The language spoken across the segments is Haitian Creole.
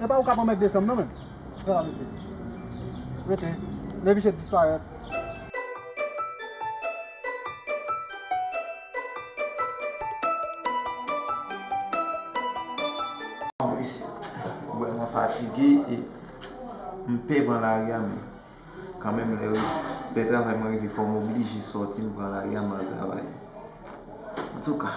Epa ou kap anmède sèm nan menm Pran la mesye Rete Nevichette disparèt. Mwen vrèman fatige e m pè pran lari a men kanmenm lè lè travay mwen rive fò m oblije sòti m pran lari a m al travay antouka.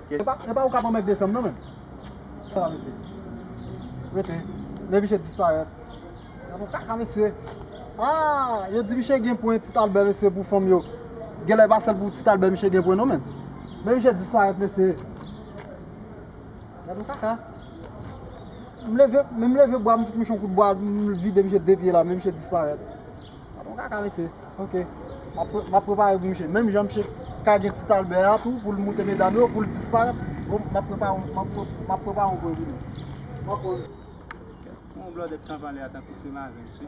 Kèsyon. Epa ou kap anmède sam nan menm. Sa vle di. Rete. Lè miche disparèt. Nan fè kaka mesye. Aah yo di miche gen pwen ti talbè mesye pou fanm yo. Genlè epa sèl pou ti talbè miche gen pwen non menm. Lè miche disparèt mesye. Nan fè kaka. M leve menm leve bwa m fout miche yon kout bwa m vide miche de pye la men miche disparèt. Tonton kaka mesye ok map prepare pou misye menm jan misye kage ti talbè a tou poul moute medam yo poul disparèt map prepare yon pwen pou nou. Pou yon blòdèt k ap pale a tankou se Mavens wi.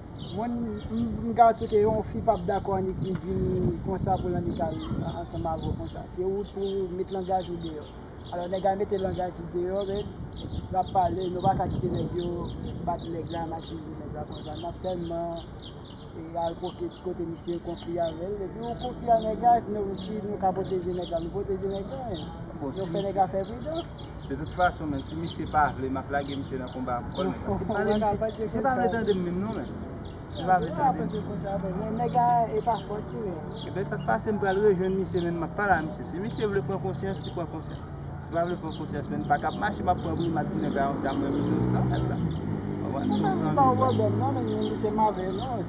Mwen m ka tchou ke yon fi pap dakò annik vin di konsa pou l annik al ansanm avè w konsa. Se ou pou ou met langaj ou deyò. Alò nèg la mete langaj li deyò men l ap pale nou pa ka kite nèg yo bat nèg la matize nèg la konsa. N ap sèlman al kote misye konfli avè l epi ou konfli a nèg la si nou ka pwoteje nèg la nou pwoteje nèg la men nou fè nèg la fè pridan. De tout fason menn si misye pa vle map lage misye nan konba a pou kòl menn paske pale misye misye pa vle tande m menm non menn misye pa vle tande m nèg a e pa fòt li menn e ben sak pase m pral rejwenn misye menn map pale a misye si misye vle pran konsyans li pran konsyans si pa vle pran konsyans menn pa kap mache map pran bri mat tounen bay yon zam menm inosan mèt la ou konprann se yon zanmi m.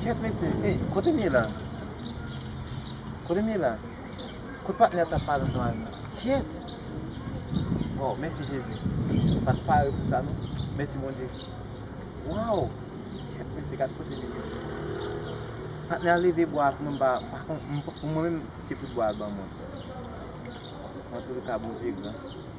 Kyèt mesye, ey, kote m ye la? Kote m ye la? Kot patnè a t ap pale ansanm avè m la? Kyèt! Waw, mèsi Jezi! M pa t pare pou sa non. Mèsi Bondye! Waw! Kyèt mesye, gad kote m ye mesye. Patnè a leve bwa a sou mwen, m pa, pa konn, pou mwen menm se tout bwa a l ban mwen. Antoulika Bondye gran.